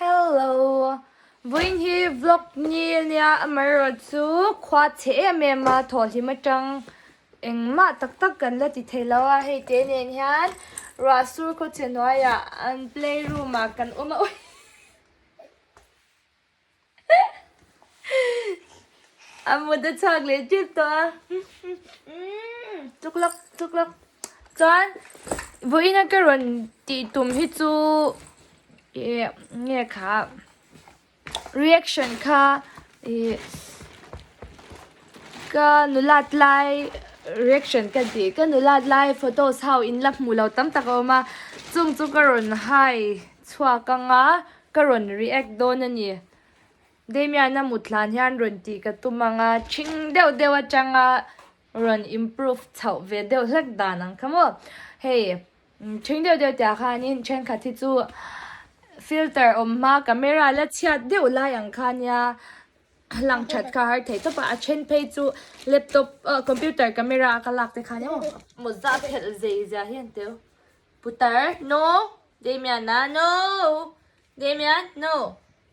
Hello! Vawiin hi vlog ni nia amaherawhchu chu khua che em em a thawhhlim atang engmah tak tak kan la ti thei lo a, hei te nen hian Ruahsur Khawchhenuaia an play room ah kan awm a ui. A mut a chak leh tip tawh a. Tuk lak tuk lak. Chuan Vawiina ka rawn tih tum hi chu ih nge kha reaction kha ih ka nula tlai reaction ka tih ka nula tlai photos ho in la hmuh loh tam tak a awm a chung chu ka rawn hai chhuak ang a ka rawn react dawn a ni. Damian a mutlan hian rawn tih ka tum ang a, chhing deuh deuh atanga rawn improve chhoh ve deuh hlek dan ang kha maw. Hei chhing deuh deuh tihah khanin thenkhat hi chu filter awm hma camera la chhiat deuh lai ang khania a lang that kha a har thei tawp a, a then phei chu laptop ah computer camera a ka lak te khan emaw maw zah phelh zai zia hi an tel. Putar no, Damian a no, Damian no.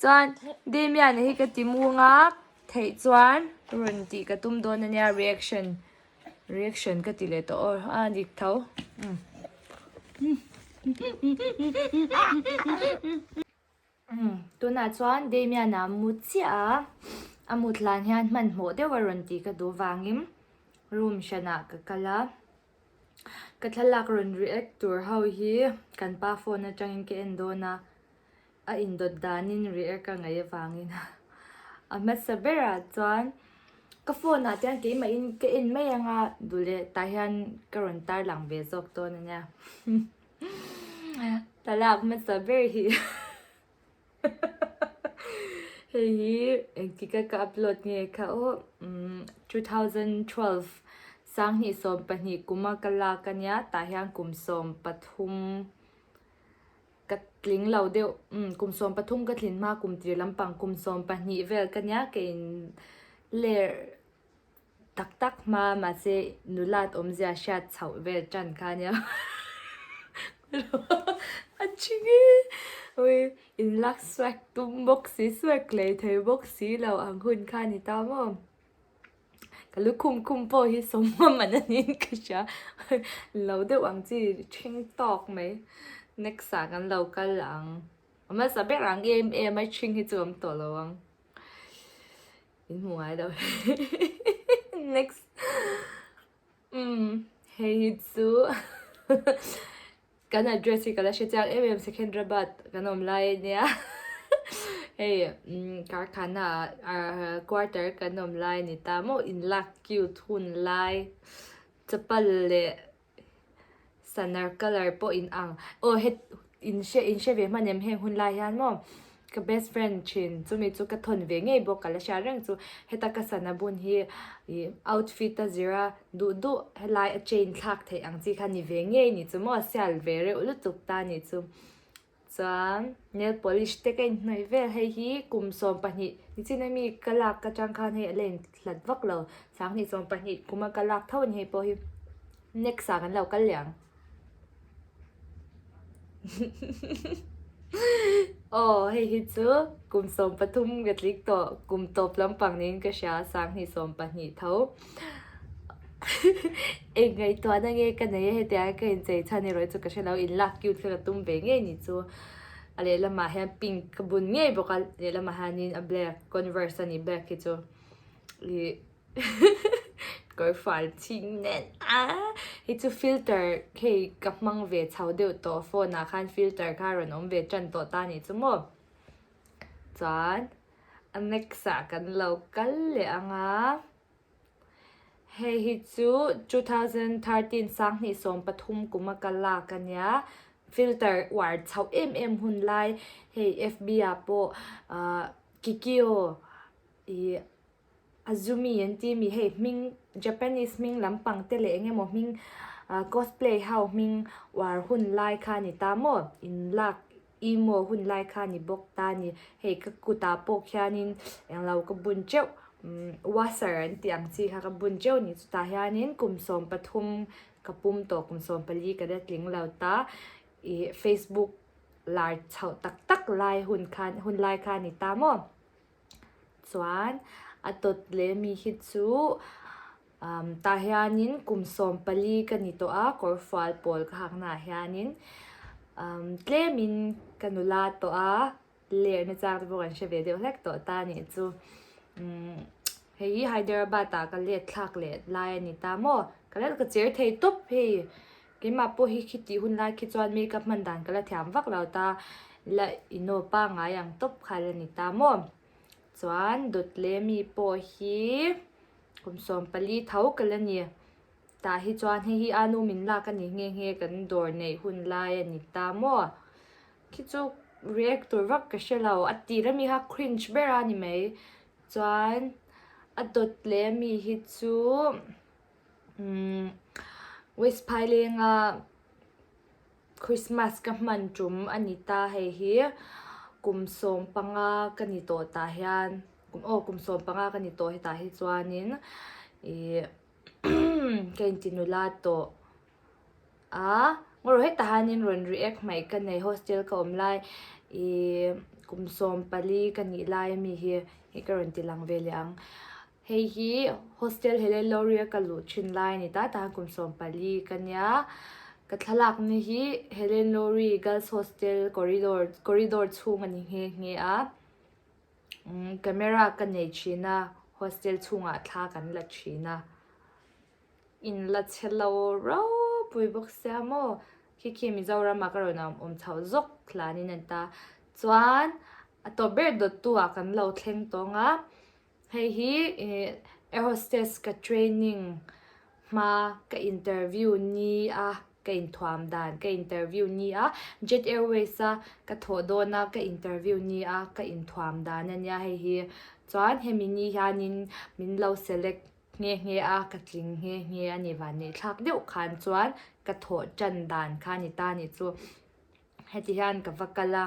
Chuan Damian hi ka ti muang a, theih chuan rawn tih ka tum dawn ania reaction reaction ka ti leh tawh aw a dik tho. Tunah chuan Damian a mu chiah a, a mutlan hian hmanhmawh deuha rawn tih ka duh vangin room hranah ka kal a. Ka thlalak rawn ri ek tur ho hi kan pa phone atangin ka en dawn a, a indawt danin ri ek a ngaih avangin a hmasa berah chuan ka phone ah te hian keimahin ka en mai anga duleh tah hian ka rawn tarlang ve zawk dawn ania thlalak hmasa ber hi. Hei hi engtika ka upload nge kha aw umm two thousand twelve sanghni sawm pahnih kuma ka lak a nia tah hian kum sawm pathum ka tling lo deuh umm kum sawm pathum ka tlin hma kum tir lampang kum sawm pahnih vel ka nia ka in ler-- Tak tak hma mahse nulat awmzia hriat chhoh vel tan kha nia a thi nge ui in lak suak tum bawk si suak lei thei bawk si lo ang hun kha a ni ta maw ka lukhum khum pawh hi sawm ngam an ni in ka hria lo deuh ang chi thleng tawk mai next ah kan lo kal ang a hmasa ber ang em em a thleng hi chu awm tawh lo ang. in hmu ngai lo e next umm hei hi chu kan address hi ka la hre chiang em em secunderabad kan awm lai a nia hei karkhana ah quarter kan awm lai a ni ta maw in lak cute hun lai chapal leh Sanar colour pawh in ang. Aw he in hre in hre ve hman em heng hunlai hian maw ka best friend thin chumi chu ka thawn ve ngei bawk ka la hria reng chu heta ka sana bun hi ih outfit a zira duh duh helai a chain thlak theih ang chi kha ni ve ngei ni chu maw sial ve reuh lutuk ta ni chu. Chuan nail polish te ka inhnawih vel hei hi kum sawm pahnih nichin a mi ka lak ka chang khan hei a la inhlat vak lo sanghnih sawm pahnih kuma ka lak tho a ni hei pawh hi next ah kan lo kal leh ang hihihihihih aw hei hi chu kum sawm pathum ka tlik tawh kum tawp lampang niin ka hria a sanghnih sawm pahnih tho. Eng ngaihtuahna nge ka nei a hetia ka inchei chhan erawh i chu ka hre lo in lak cute kha ka tum ve ngei ni chu a lehlamah hian pink ka bun ngei bawk a lehlamah hianin a black converse a ni black hi chu ih kawr fual chhing nen a hi chu filter hei ka hmang ve chho deuh tawh phone ah khan filter kha a rawn awm ve tan tawh ta ni chu maw chuan. A next ah kan lo kal leh ang a. Hei hi chu two thousand thirteen sanghnih sawm pathum kum a ka lak a nia. Filter uar chhoh em em hun lai hei FB ah pawh Kikio ih. Azumi an ti mi hei hming Japanese hming lam pang te leh eng emaw hming cosplay ho hming uar hun lai kha a ni ta maw in lak emo hun lai kha a ni bawk ta ni hei ka kut ah pawh khian in eng lo ka bun teuh umm wasser an tih ang chi kha ka bun teuh a ni chu tah hian in kum sawm pathum ka pum tawh kum sawm pali ka la tling lo ta ih Facebook lar chhoh tak tak lai hun khan hun lai kha a ni ta maw. Chuan a tawt leh mi hi chu umm tah hianin kum sawm pali ka ni tawh a kawrfual pawl ka hak naah hianin umm tlemin ka nula tawh a ler na chang te pawh kan hre ve deuh hlek tawh ta nih chu umm hei hi Hyderabad ah ka let thlak leh lai a ni ta maw ka lalka cher thei tawp hei. Keimah pawh hi khi tih hun lai khi chuan make up hman dan ka la thiam vak lo ta, la ino pangngai ang tawp kha la ni ta maw. Chuan dawt leh mi pawh hi kum sawm pali tho ka la ni tah hi chuan hei hi anu min lak a nih nghe nghe kan dawr neih hun lai a ni ta maw. Khi chu react tur vak ka hre lo, a tih rami kha cringe ber a ni mai. Chuan a dawt leh ami hi chu. West Phailenga Christmas ka hman tum a ni ta, hei hi kum sawm panga ka ni tawh tah hian, aw kum sawm panga ka ni tawh hetah hi chuanin ih ka inti nula tawh a, ngaw rawh hetah hianin rawn ri ek hmaih ka nei, hostel ka awm lai ih kum sawm pali ka nih lai ami hi ka rawn ti lang ve leh ang. Hei hi hostel hele Loria ka luh thin lai ni ta tan kum sawm pali ka nia. Ka thlalak na hi Helen Lori Girls Hostel corridor corridor chhung a ni nghe nghe a. Umm camera ka nei thin a hostel chhungah thla kan la thin a. In la che lo rau pui bawk sia maw. Khi khi Mizoram ah ka rawn awm chho zawk thlanin a ni ta. Chuan a tawp ber dawt tu ah kan lo thleng tawng a. Hei hi air hostess ka training hma ka interview ni a ka inthuam dan ka interview ni a jet airways a ka thawh dawn a ka interview ni a ka inthuam dan a nia hei hi chuan hemi ni hian in min lo select nghe nghe a ka tling nghe nghe a ni vannei thlak deuh khan chuan ka thawh tan dan kha a ni ta ni chu Heti hian ka va kal a,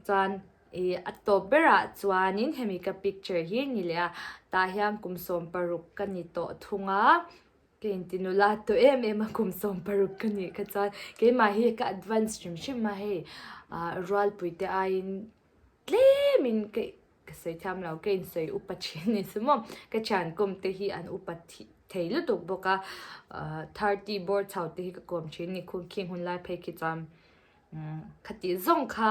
chuan i a tawp berah chuanin hemi ka picture hi ni leh a, tah hian kum sawm paruk ka ni tawh thung a, ka inti nula tawh em em a kum sawm paruk ka nih kha chuan keimah hi ka advance hrim hrim a hei rualpuite aiin Tlem in ka ka sawi thiam lo, ka in sawi upa thin ni chu maw. Ka thian kawm te hi an upa thi thei lutuk bawk a, thirty bawr chho te hi ka kawm thin ni khung khi hun lai phei khi chuan khatih zawng kha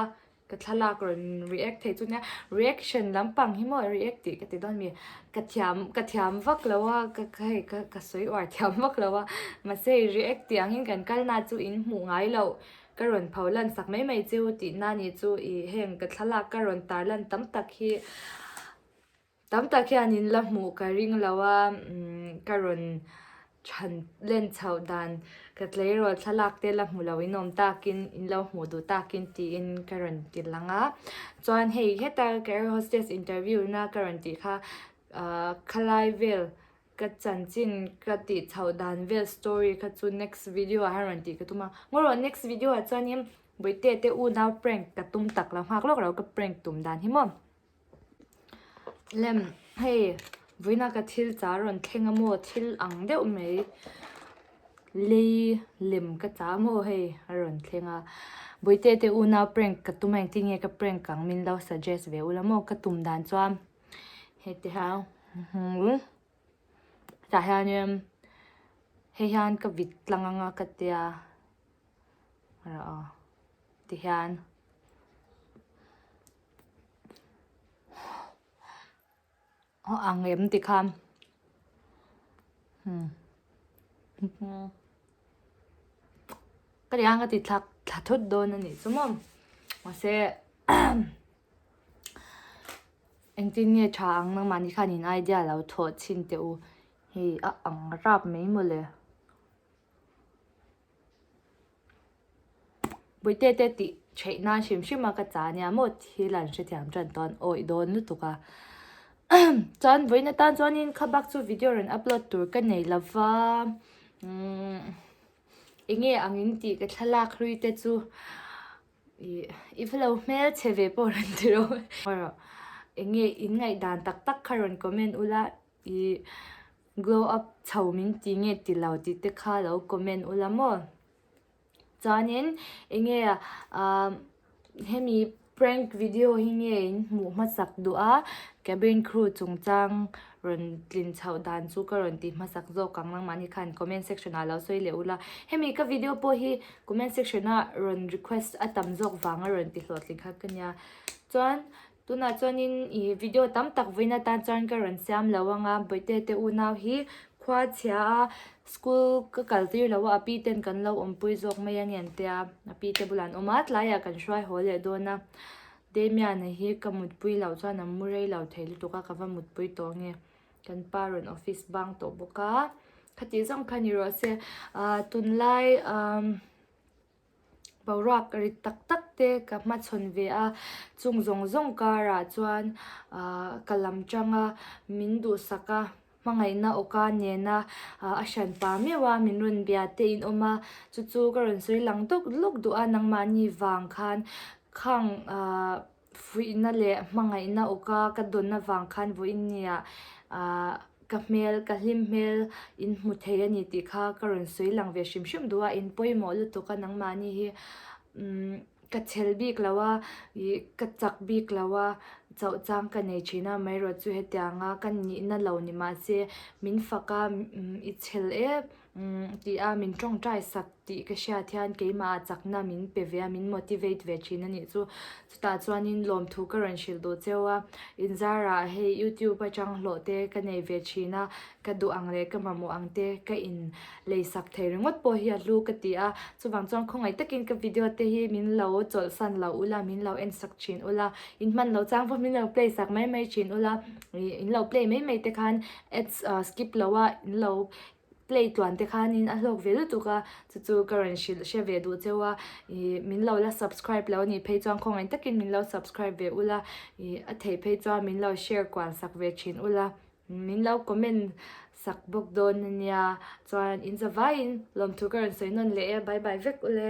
ka thlalak rawn react thei chu nia, reaction lampang hi maw react tih ka ti dawn mi. Ka thiam ka thiam vak lo a, ka ka hei ka ka sawi uar thiam vak lo a, mahse react tih ang in kan kal na chu in hmuh ngai loh Ka rawn pho lansak mai mai chu tih na nih chu i heng ka thlalak ka rawn tar lan tam tak hi tam tak hian in la hmuh ka ring lo a ka rawn chhan len chho dan ka tleirawl thlalak te la hmu lo in awm tak in in lo hmuh duh tak in tih in ka rawn ti lang a chuan hei heta ka air hostess interview na ka rawn tih kha khalai vel Ka chanchin ka tih chhoh dan vel story kha chu next video ah hian rawn tih ka tum a. Ngaw rawh next video ah chuanin Bawihte te u nau prank ka tum tak lo nghak lawk lo ka prank tum dan hi maw. Lem hei Vawiina ka thil char rawn thleng a maw thil ang deuh mai lei lem ka chah a maw hei a rawn thleng a. Bawihte te u nau prank ka tum a engtin nge ka prank ang min lo suggest ve ula maw ka tum dan chuan. Hetiha hmul tah hianin hei hian ka vit tlang anga ka ti a rawh aw tihian aw ang em ti kha hmm ka ti hian ka tithlak thla thut dawn a nih chu maw mahse Engtin nge tha ang nangmahni khan in idea lo thawh chhin teh u. Hei a ang rap mai maw le. Buaite te tih theih nan hrim hrim a ka chah ania maw thil an hrethiam tan tawn awih dawn lutuk a. Chuan vawiina tan chuan in kha bak chu video rawn upload tur ka nei lo va. Eng nge ang in tih ka thlalak hlui te chu. I va lo hmel che ve pawh rawn ti rawh e. Erawh enge in ngaih dan tak tak kha rawn comment u la i glow up chho min ti nge ti lo tih te kha lo comment u la maw. Chuanin enge ah hemi prank video hi nge in hmuh hmasak duh a cabin crew chungchang. rawn tlin chhoh dan chu ka rawn ti hmasak zawk ang nangmah ni khan comment section ah lo sawi leh ula hemi ka video pawh hi comment section ah rawn request a tam zawk vanga rawn ti hlawh tling kha ka nia chuan tunah chuanin i video tam tak vawiin atan chuan ka rawn siam lo ang a bawihte te unau hi khua chhia a school ka kal tir lo a a pi ten kan lo awmpui zawk mai a ngen tia a pi te bulah an awm a tlaiah kan hruai haw leh dawn a. Damian-a hi ka mutpui loh chuan a mu rei lo thei lutuk a, ka va mutpui tawh nge? Kan pa rawn office bang tawh bawk a, khatih zawng kha ni rawh se, aah tunlai umm boruak rit tak tak te ka hmachhawn ve a, chung zawng zawng karah chuan aah ka lam tanga min duhsak a, Hmangaihna awka nena a hran pa meuh a, min rawn bia teiin awm a, chu chu ka rawn sawi lang dawk lawk duh a, nangmahni vang khan khang fuihna leh hmangaihna awka ka dawn avang khan vawiin nia ka hmel, ka hlim hmel in hmu thei a ni tih kha ka rawn sawi lang ve hrim hrim duh a, in pawimawh lutuk a nangmahni hi umm. Ka chhel bik lo a, ih, ka chak bik lo a, chauhchang ka nei thin a, Myra chu hetia ang a, Ka nih na lo ni mah se, min fak a, umm, i chhel e, umm, tih a min tawngtai sak tih ka hriat hian keimah a chak na min pe ve a, min motivate ve thin a nih chu. Chutah chuan in lawmthu ka rawn hrilh duh cheu a, in zar ah hei youtube atang hlawh te ka nei ve thin a, ka duh ang leh ka mamawh ang te ka in lei sak thei ringawt pawh hi a hlu ka ti a, chuvang chuan khawngaih takin ka video te hi min lo chawlhsan loh ula, min lo en sak thin ula, in hman loh chang pawh min lo play sak mai mai thin ula, ih in lo play mai mai te khan ads a skip loh a in lo play tluan te khanin a hlawk ve lutuk a, chu chu ka rawn hrilh hre ve duh cheu a, ih min lo la subscribe loh a nih phei chuan khawngaih takin min lo subscribe ve ula, ih a thei phei chuan min lo share kual sak ve thin ula. Min lo comment sak bawk dawn a nia. Chuan in zavaiin lawmthu ka rawn sawi nawn leh e, bye bye vek ule.